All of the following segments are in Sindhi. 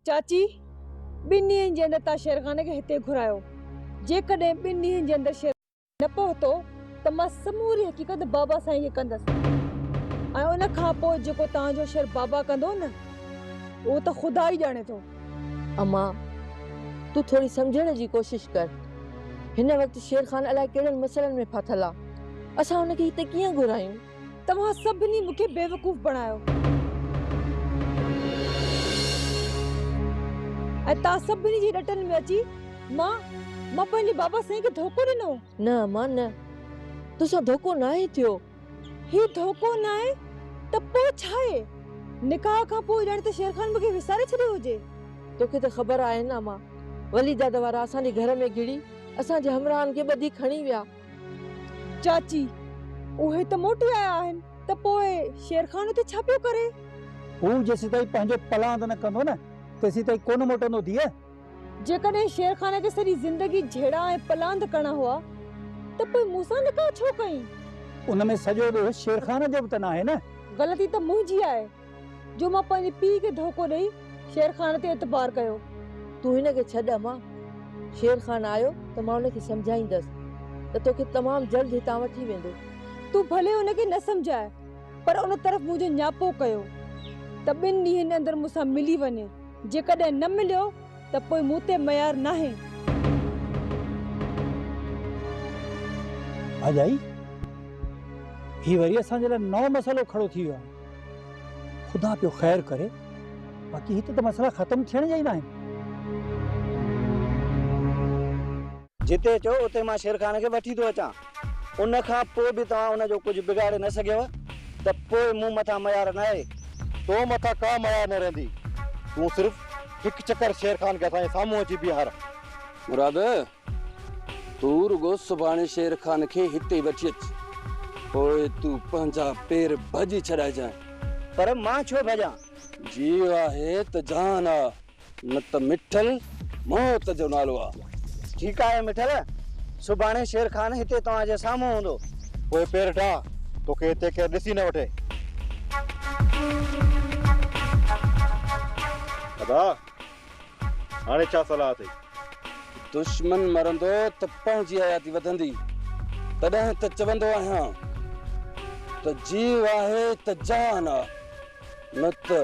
چاچي، ٻن ڏينهن جي اندر تان شيرخان کي هتي گهرايو. جيڪڏهن ٻن ڏينهن جي اندر شيرخان هتي نه پهتو ته مان سموري حقيقت بابا سائين کي ڪندس ۽ ان کان پوء جيڪو توهان جو شر بابا ڪندو نه اهو ته خدا ئي ڄاڻي ٿو. امان! تون ٿوري سمجهڻ جي ڪوشش ڪر. هن وقت شير خان الائي ڪهڙن مسئلن ۾ ڦاٿل آ. اسان هن کي هتي ڪيئن گهرايون؟ توهان سڀني مون کي بيوقوف بڻايو ۽ توهان سڀني جي رٽن ۾ اچي مان مان پنهنجي بابا سائين کي ڌوڪو ڏنو. نه امان نه. توسان ڌوڪو ناهي ٿيو. هي ڌوڪو ناهي ته پوء ڇاهي؟ نڪاح کان پوء ڄڻ ته شير خان مون کي وساري ڇڏيو هجي. توکي ته خبر آهي نه امان، ولي دادا وارا اسان جي گهر ۾ گهڙي اسان جي همراهن کي ٻڌي کڻي ويا. چاچي، اهي ته موٽي آيا آهن ته پوء شير خان اتي ڇا پيو ڪري؟ هو جيسيتائين پنهنجو پلاند نه ڪندو نه، تيسيتائين ڪونه موٽندو ڌيء. جيڪڏهن شيرخان کي سڄي زندگي جهيڙا ۽ پلاند ڪرڻا هئا ته پوء مون سان نڪاح ڇو ڪيائين؟ ان ۾ سڄو ڏوهه شيرخان جو به ته ناهي نه؟ غلطي ته منهنجي آهي جو مان پنهنجي پيء کي ڌوڪو ڏئي شيرخان تي اعتبار ڪيو. تون هن کي ڇڏ امان. شيرخان آيو ته مان ان کي سمجهائيندس ته توکي تمام جلد هتان وٺي ويندو. تون ڀلي ان کي نه سمجهاء پر ان طرف منهنجو نياپو ڪيو ته ٻن ڏينهن اندر مون سان ملي وڃي. جيڪڏهن نه مليو ته پوء مون تي ميار ناهي. ڀاڄائي، هي وري اسان جي لاء نئون مسئلو کڙو ٿي ويو آهي. خدا پيو خير ڪري، باقي هت ته مسئلا ختم ٿيڻ جا ئي ناهن. جتي چئو اتي مان شيرخان کي وٺي ٿو اچان. ان کان پوء به توهان ان جو ڪجهه بگاڙي نه سگهيو ته پوء مون مٿان ميار ناهي. تو مٿان ڪا ميار نه رهندي. تون صرف هڪ چڪر شيرخان کي اسان جي سامهون اچي بيهار. مراد! تون رڳو سڀاڻي شيرخان کي هتي وٺي اچ. پوء تون پنهنجا پير ڀڄي ڇڏائجانء. پر مان ڇو ڀڄان؟ جيء آهي ته جهان آ. نه ته مٺل موت جو نالو آ. ٺيڪ آهي مٺل، سڀاڻي شير خان هتي توهان جي سامهون هوندو. پوء پير ٽاهه، توکي هتي ڪير ڏسي نه وٺي. ادا، هاڻي ڇا صلاح اٿئي؟ دشمن مرندو ته پنهنجي حياتي وڌندي، تڏهن ته چوندو آهيان ته جيو آهي ته جهان آ. نه ته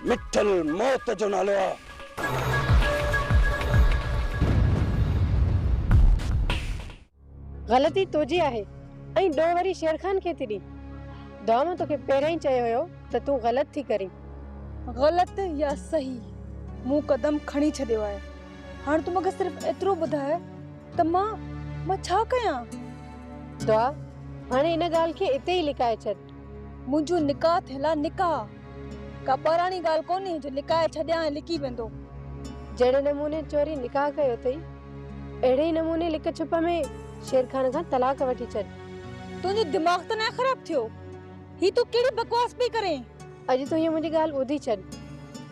مٺل موت جو نالو آ. غلطي تنهنجي آهي ۽ ڏوهه وري شير خان کي ٿي ڏي. دانهن توکي پهريان ئي چيو هيو ته تون غلط ٿي ڪرين. غلط يا صحيح مون قدم کڻي ڇڏيو آهي. هاڻ تون مونکي صرف ايترو ٻڌاء ته مان مان ڇا ڪيان؟ دعا، هاڻي ان ڳالهه کي اتي ئي لڪائي ڇڏ. منهنجو نڪاح ٿيل آ نڪاح ڪا ٻاراڻي ڳالهه ڪونهي جو لڪائي ڇڏيان ۽ لڪي ويندو. جهڙي نموني چوري نڪاح ڪيو اٿئي اهڙي ئي نموني لڪ ڇپ ۾ شير خان کان طلاق وٺي ڇڏ. تنهنجو دماغ ته ناهي خراب ٿيو هي تون ڪهڙي بڪواس پئي ڪرين. اڄ تون هيء منهنجي ڳالهه ٻڌي ڇڏ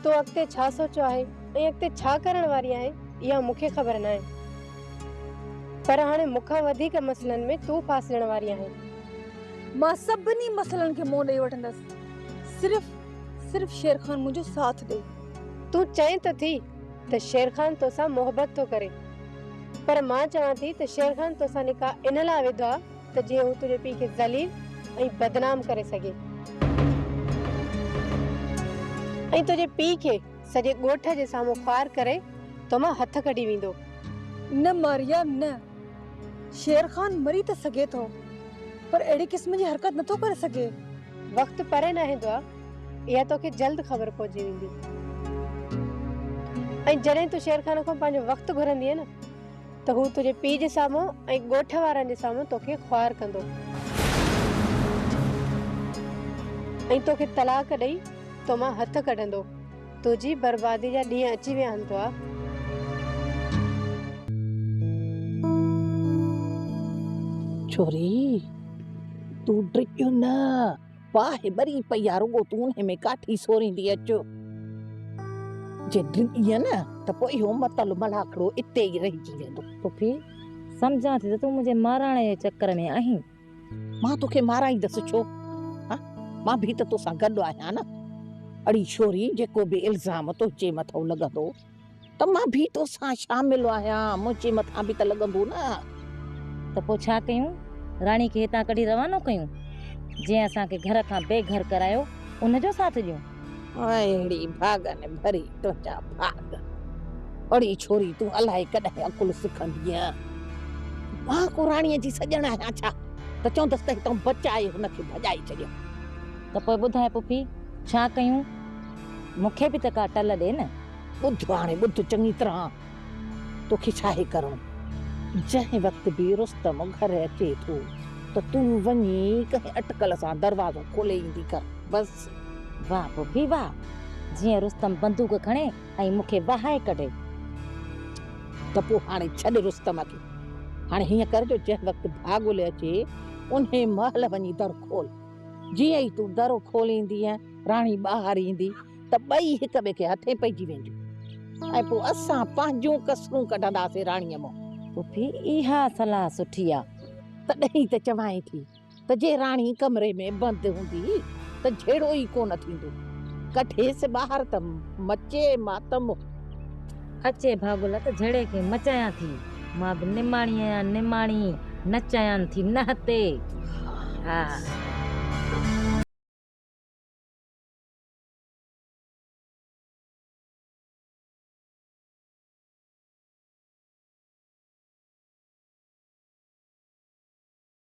تو اڳتي ڇا سوچيو آهي ۽ اڳتي ڇا ڪرڻ واري آهين اها مون کي خبر ناهي پر هاڻي مون کان وڌيڪ مسئلن ۾ تون ڦاسجڻ واري آهين. مان سڀني مسئلن کي منهن ڏئي وٺندس صرف صرف شير خان منهنجو ساٿ ڏئي. تون چئين ته ٿي ته شير خان توسان محبت ٿو ڪري پر مان چوان ٿي ته شير خان توسان نڪاح ان لاء وڌو آ ته جيئن هو تنهنجي پيء کي ذليل ۽ بدنام ڪري سگهي ۽ تنهنجي پيء کي سڄي ڳوٺ جي سامهون خوار ڪري تو مان هٿ ڪڍي ويندو. نه ماريا نه. شير خان مري ته سگهي ٿو پر اهڙي قسم جي حرڪت نه ٿو ڪري سگهي. وقت پري ناهي دعا، اها توکي جلد خبر پئجي ويندي ۽ جڏهن تون شير خان کان پنهنجو وقت گهرندينء نه ته هو تنهنجي پيء جي سامهون ۽ ڳوٺ وارن جي سامهون توکي خوار ڪندو ۽ توکي طلاق ڏئي تو مان هٿ ڪڍندو. تنهنجي بربادي جا ڏينهن اچي ويا آهن توهه. ڇوري تون ڊڄ نه باهه ٻري پئي آ رڳو تون انهي ۾ ڪاٺي سوريندي اچ جي ڊڄين نه ته پوء اهو متل ملاکڙو اتي ئي رهجي ويندو. پڦي سمجهان ٿي ته تون منهنجي ماراڻي جي چڪر ۾ آهين. مان توکي مارائيندس ڇو؟ ها مان به ته توسان گڏ آهيان نه. اڙي ڇوري جيڪو به الزام تنهنجي مٿو لڳندو ته مان به توسان شامل آهيان منهنجي مٿان به ته لڳندو نه. ته پوء ڇا ڪيون؟ راڻي کي هتان ڪڍي روانو ڪيون؟ جنهن اسان کي گهر کان بي گهر ڪرايو ان جو ساٿ ڏيون؟ اهڙي ڀاڳن ڀري تنهنجا ڀاڳ. اڙي ڇوري تون الائي ڪڏهن عقل سکندينء. مان ڪو راڻيء جي سڄڻ آهيان ڇا ته چوندس ته هتان بچائي هن کي ڀڄائي ڇڏيم. ته پوء ٻڌاء پڦي ڇا ڪيون؟ مون کي به ته ڪا ٽل ڏي نه. ٻڌ هاڻي ٻڌ چڱي طرح توکي ڇاهي ڪرڻو. جنهن وقت به رستم گهر اچي ٿو ته تون وڃي ڪنهن اٽڪل سان دروازو کولي ايندي ڪر. بس. واھ پڦي واھ جيئن رستم بندوق کڻي ۽ مون کي وهائي ڪڍي. ته پوء هاڻي ڇڏ رستم کي. هاڻي هيئن ڪر جو جنهن وقت ڀاڳولي اچي انهي مهل وڃي در کول. جيئن ئي تون در کوليندينء راڻي ٻاهر ايندي ته ٻئي هڪ ٻئي کي هٿين پئجي وينديون ۽ پوء اسان پنهنجون ڪسرون ڪڍنداسين راڻيء منهن. پڦي اها صلاح سٺي آ. تڏهن ئي ته چوانء ٿي. ته جي راڻي ڪمري ۾ بند هوندي ته جهيڙو ئي ڪونه ٿيندو. ڪڍيس ٻاهر ته مچي ماتم هو. اچي ڀاڳولا ته جهيڙي کي مچايان ٿي. مان به نماڻي آهيان نماڻي نچايان ٿي نهتي ها.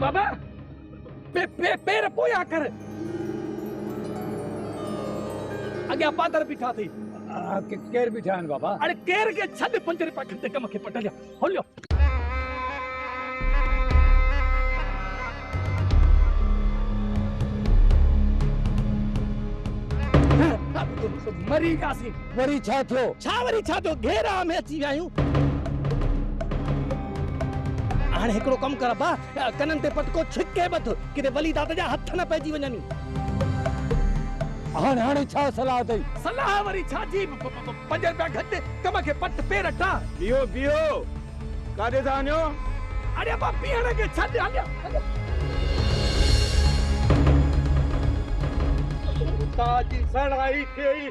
بابا پي پي پير پويان ڪر اڳيان پادر بيٺا ٿي ڪير بيٺا آهن بابا اڙي ڪير کي ڇڏ پنج رپيا کڻ ته ڪم کي پٽ هليو هليو مري وياسين وري ڇا ٿيو؟ ڇا وري ڇا ٿيو؟ گهيراء ۾ اچي ويا آهيون. هاڻي هڪڙو ڪم ڪر ابا، ڪنن تي پٽڪو ڇڪي ٻڌ، ڪٿي ولي دادا جا هٿ نه پئجي وڃن. هاڻ هاڻي ڇا صلاح اٿئي؟ صلاح وري ڇا جي، پنج رپيا گهٽ، ڪم کي پٽ پير ٽان. بيهو بيهو، ڪاڏي ٿا وڃو؟ اڙي ابا بيهڻ کي ڇڏ، هليا هليا. تاج جي سهڻائي کي ئي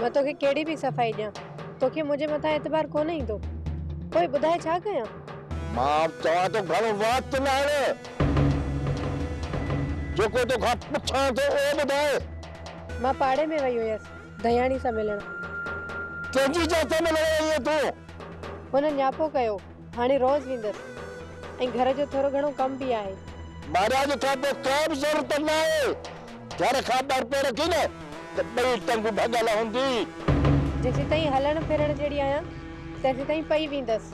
مان توکي ڪهڙي به صفائي ڏيان، توکي منهنجي مٿان اعتبار ڪونه ايندو، پوء ٻڌاء ڇا ڪيان؟ مان چوان ٿو گهڻو وات نه هڻ، جيڪو توکان پڇان ٿو اهو ٻڌاء. مان پاڙي ۾ وئي هيس دهياڻي سان ملڻ. ڪنهن جي جنس سان ملڻ وئي هئين تون؟ هن نياپو ڪيو. هاڻي روز ويندس ۽ گهر جو ٿورو گهڻو ڪم به آهي. مهاراج کان پوء ڪا به ضرورت نه آهي. گهر کان ٻاهر پير رکين نه ته ٻئي ٽنگون ڀڳل هوندي. جيسيتائين هلڻ ڦرڻ جهڙي آهيان تيسيتائين پئي ويندس.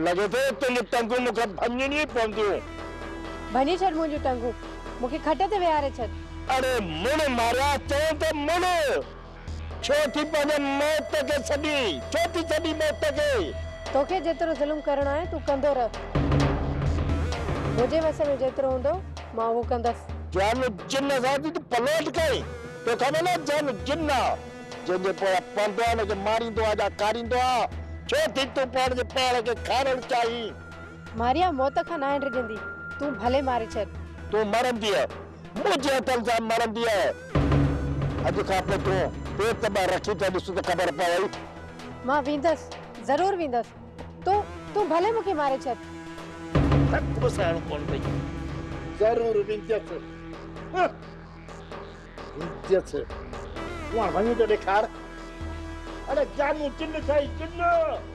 لڳي ٿو تنهنجون ٽنگون مون کان ڀڃڻيون ئي پونديون. ڀڃي ڇڏ منهنجون ٽنگون. مون کي کٽ تي ويهاري ڇڏ. اڙي مڙ مهاراج چيائين ته مڙ. ڇو ٿي پنهنجي موت کي سڏين. ڇو ٿي سڏين موت کي. توکي جيترو ظلم ڪرڻو آهي تون ڪندو رهه. منهنجي وس ۾ جيترو هوندو مان اهو ڪندس. جان جن سان ته پلوٽ ڪئين. تو خبر ناهي جان جن آ. جنهن جي پويان پوندو آ ان کي ماريندو آ جا کاريندو آ. ڇو ٿي تون پاڻ جي پاڻ کي کارڻ چاهين. ماريا موت کان ناهي ڊڄندي. تون ڀلي ماري ڇڏ. تون مرنديء. منهنجي هٿن سان مڙندي آهي. اڄ کان پوء تون پيت ٻاهر رکي ته ڏس ته خبر پوي. مان ويندس، ضرور ويندس. تون، تون ڀلي مون کي ماري ڇڏ. ٿڪ به سهڻو ڪونه پئي. ضرور ويندس. ويندس. تون هاڻ وڃي ته ڏيکار. اڙي جانو جن سائين جن.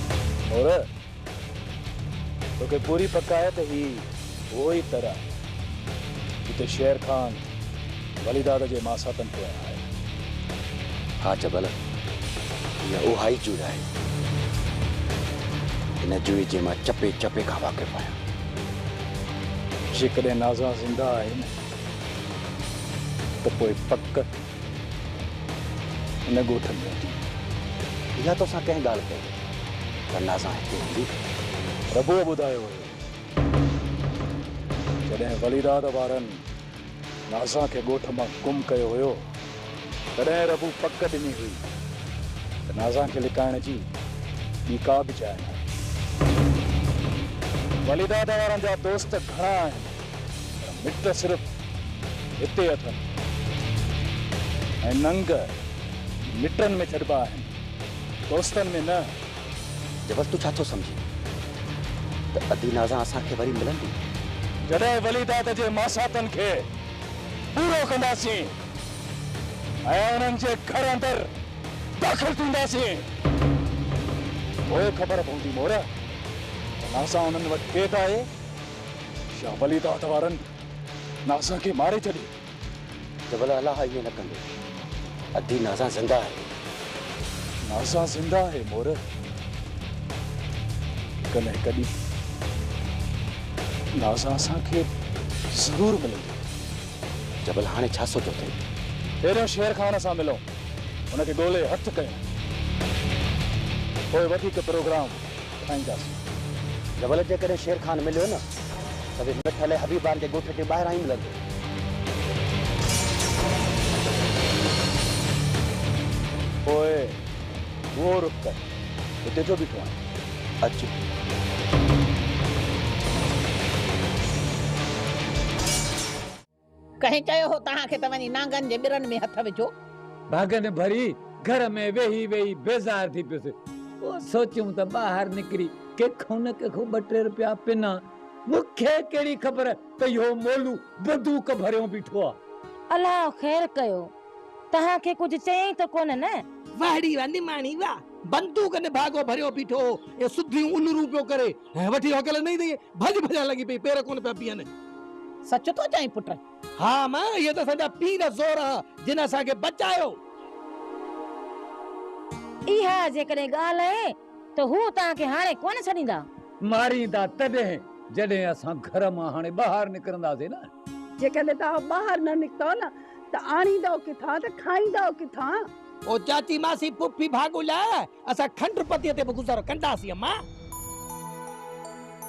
نور! توکي پوري پڪ آهي ته هي اهو ئي تر آهي، جتي شير خان وليداد جي ماساتن پويان آيو. ها جبل! هيء اها ئي جوء آهي. هن جوء جي مان چپي چپي کان واقف آهيان. جيڪڏهن نازا زنده آهي نه ته پوء پڪ. ان ڳوٺ ۾ اچي اها توسان ڪنهن ڳالهه ڪئي ورنه اسان هتي هوندي ڪٿي. ربوء ٻڌايو هيو جڏهن وليراد وارن نازان کي ڳوٺ مان گم ڪيو هيو تڏهن ربوء پڪ ڏني هئي ته نازان کي لڪائڻ جي ٻي ڪا به جاء ناهي. وليراد وارن جا دوست گهڻا آهن. پر مٽ صرف هتي اٿن ۽ ننگ مٽن ۾ ڇڏبا آهن دوستن ۾ نه. جبل تون ڇا ٿو سمجهين ته ادي نازان اسان کي وري ملندي؟ جڏهن وليداد جي ماساتن کي پورو ڪنداسين ۽ انهن جي گهر اندر داخل ٿينداسين پوء خبر پوندي مور ته نازان انهن وٽ ڪيڏ آهي. يا ولي داد وارن نازان کي ماري ڇڏي. جبل الاح ائين نه ڪندو. ادي نازان زنده آهي. نازان زنده آهي مور. هڪ نه هڪ ڏينهن نازان اسان کي ضرور ملندي. جبل هاڻي ڇا سوچيو اٿئي؟ پهريون شير خان سان ملون. ان کي ڳولي هٿ ڪيون. پوء وڌيڪ پروگرام ٺاهينداسين. جبل جيڪڏهن شير خان مليو نه ته به مٺل ۽ حبيبان جي ڳوٺ جي ٻاهران ئي ملندو. پوء اهو رخ ڪر، هتي ڇو بيٺو آهين؟ اچ. ڪنهن چيو هو توهان کي ته وڃي نانگن جي ٻرن ۾ هٿ وجهو. ڀاڳن ڀري گهر ۾ ويهي ويهي بيزار ٿي پيس. پوء سوچيم ته ٻاهر نڪري ڪنهن کان نه ڪنهن کان ٻه ٽي رپيا پنان. مون کي ڪهڙي خبر ته اهو مولو بدوڪ ڀريو بيٺو آ. الله خير ڪيو. توهان کي ڪجهه چيائين ته ڪونه نه؟ واهڙي ويا نماڻي ويا. بندوڪ نڀاڳو ڀريو بيٺو هو ۽ سڌيون الرون پيو ڪري. هيء وٺي هوڪل ڏنئي ته ڀڄ ڀڄڻ لڳي پئي، پير ڪونه پيا بيهن. سچ ٿو چئين پٽ؟ ها ماء، اهي ته اسان جا پير زور آهن، جن اسان کي بچايو. اها جيڪڏهن ڳالهه آهي ته هو توهان کي هاڻي ڪونه ڇڏيندا. ماريندا تڏهن جڏهن اسان گهر مان هاڻي ٻاهر نڪرنداسين نه. جيڪڏهن توهان ٻاهر نه نڪتئو نه ته آڻيندئو ڪٿان ته کائيندئو ڪٿان؟ او چاچي، ماسي، ڦوڦي، ڀاڳو لاء اسان کنڊ پتيء تي به گذر ڪنداسين امان.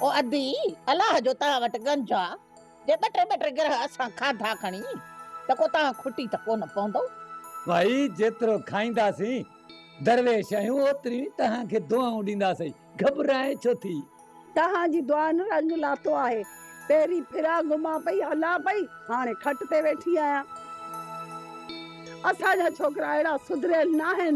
او ادي، الله جو توهان وٽ گنج آ، جي ٻه ٽي ٻه ٽي گرهه اسان کاڌا کڻي ته ڪو توهان کٽي ته ڪونه پوندو. ڀائي جيترو کائينداسين درويش آهيون اوتريون ئي توهان کي دعائون ڏينداسين، گهٻرائين ڇو ٿي. توهان جي دعائن رنگ لاتو آهي، پهرين ڦرا گهمان پئي هلان پئي، هاڻي کٽ تي ويٺي آهيان. اسان جا ڇوڪرا اهڙا سڌريل ناهن.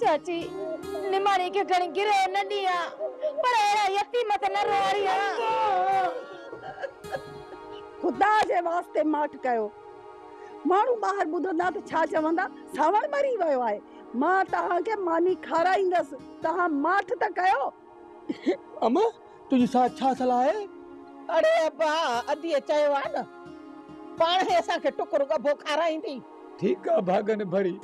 چاچي نماڻي کي کڻي گرهه نه ڏيان پر اهڙا يتيم ته نه روئاريان خدا جي واسطي ماٺ ڪيو ماڻهو ٻاهر ٻڌندا ته ڇا چوندا ساوڻ مري ويو آهي مان توهان کي ماني کارائيندس توهان ماٺ ته ڪيو امه! تنهنجي ساڻس ڇا صلاح آهي؟ اڙي ابا! اديء چيو آهي نه، پاڻ هي اسان کي ٽڪر ڳڀو کارائيندي. ٺيڪ آهي ڀاڳن ڀري،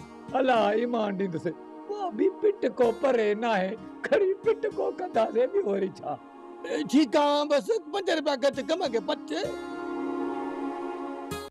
الله ايمان ڏيندسي. پوء به پٽ ڪو پري ناهي، کڻي پٽ ڪو ڪنداسين، ٻيو وري ڇا؟ ٺيڪ آهي، بس پنج رپيا گهٽ ڪم کي پٽ.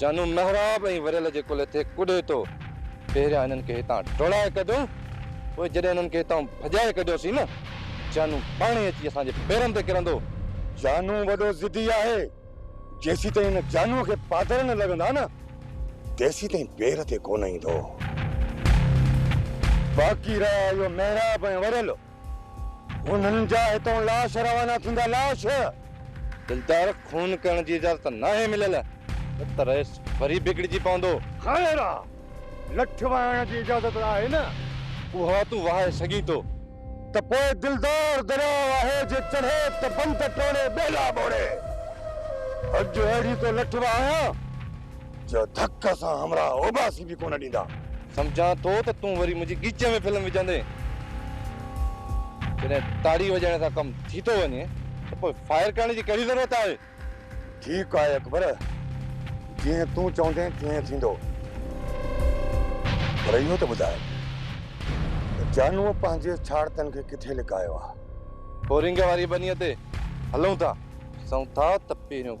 جانو محراب ۽ وريل جي ڪلهي تي ڪڏي تو پهريان انهن کي هتان ڊوڙائي ڪڍيون پوء جڏهن انهن کي هتان ڀڄائي ڪڍيوسين نه جانو پاڻ ئي اچي اسان جي پيرن تي ڪرندو. جانو وڏو ضدي آهي جيسيتائين ان جانوء کي پادر نه لڳندا نه تيسيتائين پير تي ڪونه ايندو. باقي رهيا اهو محراب ۽ وريل انهن جا هتئون لاش روانا ٿيندا، لاش! دلدار، خون ڪرڻ جي اجازت ناهي مليل، نه ته رئيس وري بگڙجي پوندو. خير آ، لٺ وهائڻ جي اجازت ته آهي نه؟ اها تون وهائي سگهين ٿو. ته پوء دلدار درياء آهي، جي چڙهي ته بند ٽوڙي ٻيلا ٻوڙي. اڄ اهڙي ٿو لٺ وهايان. جو ڌڪ سان همراهه اوٻاسي به ڪونه ڏيندا. سمجهان ٿو ته تون وري منهنجي ڳچيء ۾ فلم وجهندين. جڏهن تاڙي وڄائڻ سان ڪم ٿي ٿو وڃي ته پوء فائر ڪرڻ جي ڪهڙي ضرورت آهي؟ ٺيڪ آهي اڪبر، جيئن تون چوندين تيئن ٿيندو. پر اهو ته ٻڌاء ته جانوء پنهنجي ڇاڙتن کي ڪٿي لڪايو آهي؟ بورنگ واريء ٻنيء تي هلون ٿا. ڏسون ٿا ته پهريون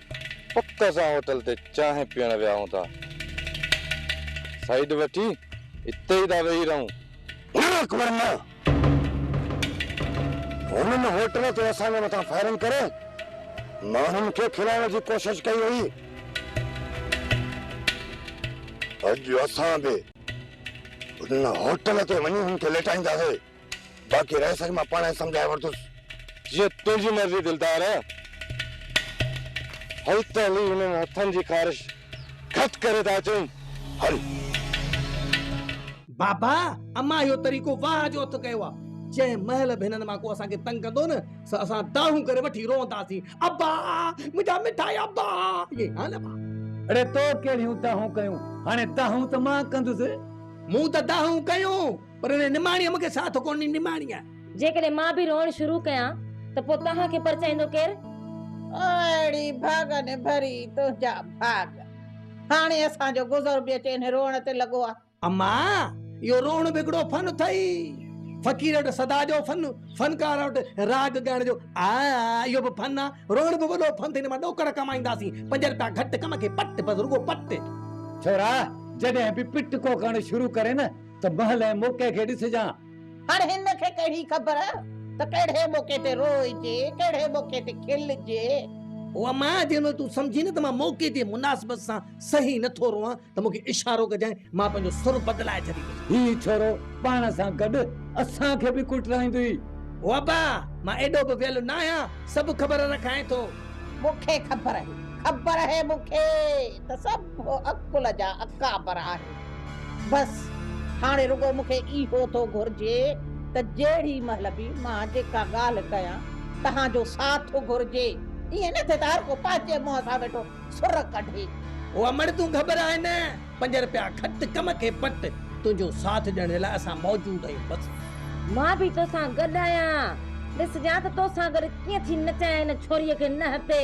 پڪ اسان هوٽل تي چانهه پيئڻ ويهون ٿا. سائيڊ وٺي اتي ئي ٿا ويهي رهون. نه اڪبر نه! هنن هوٽل تي اسان جي مٿان فائرنگ ڪري ماڻهن کي کلائڻ جي ڪوشش ڪئي هئي. اڄ اسان به ان هوٽل تي وڃي هن کي ليٽائينداسين. باقي رهه سڄ مان پاڻهائي سمجهائي ورتس. جيئن تنهنجي مرضي دلدار. هل ته هلي هنن هٿن جي خارش گهٽ ڪري ته اچون. هل. بابا امان اهو طريقو واهه جو هٿ ڪيو آ. جنهن مهل به هنن مان ڪو اسان کي تنگ ڪندو نه سو اسان دانهون ڪري وٺي روئنداسين ابا! منهنجا مٺا ابا! ائين ها نه ڀاء؟ اڙي تو ڪهڙيون دانهون ڪيون هاڻي دانهون ته مان ڪندس. مون ته دانهون ڪيون. پر هن نماڻيء مون کي ساٿ ڪونه ڏني. نماڻيء. جيڪڏهن مان به روئڻ شروع ڪيان ته پوء توهان کي پرچائيندو ڪير؟ اهڙي ڀاڳن ڀري تنهنجا ڀاڳ. هاڻي اسان جو گذر به اچي انهي روئڻ تي لڳو آهي. اما! اهو روئڻ به هڪڙو فن اٿئي. فقير وٽ سدا جو فن، فنڪار وٽ راڳ ڳائڻ جو آء آء اهو به فن آهي. روئڻ به وڏو فن اٿئي. هن مان ڏوڪڙ ڪمائينداسين. پنج رپيا گهٽ ڪم کي پٽ، بس رڳو پٽ. ڇورا جڏهن به پٽ ڪو ڪرڻ شروع ڪرين نه. ته مهل ۽ موقعي کي ڏسجان. هاڻ هن کي ڪهڙي خبر ته ڪهڙي موقعي تي روئجي، ڪهڙي موقعي تي کلجي. او اما! جيئن تون سمجهين نه ته مان موقعي جي مناسبت سان صحيح نه ٿو روئان ته مون کي اشارو ڪجانء، مان پنهنجو سر بدلائي ڇڏيندس. هيء ڇورو پاڻ سان گڏ اسان کي به ڪٽرائيندو ئي. او ابا! مان ايڏو به ويل نه آهيان، سڀ خبر رکانء ٿو. مون کي خبر آهي، خبر آهي مون کي ته سڀ. هو عقل جا اڪابر آهن. بس هاڻي رڳو مون کي اهو ٿو گهرجي ته جهڙي مهل به مان جيڪا ڳالهه ڪيان توهان جو ساٿ گهرجي. ائين نه ٿئي ته هر ڪو پنهنجي منهن سان ويٺو سر ڪڍي. هو امڙ تون گهٻرائي نه. پنج رپيا کٽ ڪم کي پٽ. تنهنجو ساٿ ڏيڻ لاء اسان موجود آهيون بس. مان به توسان گڏ آهيان. ڏس جان ته توسان گڏ ڪيئن ٿي نچايان هن ڇوريء کي نه هتي.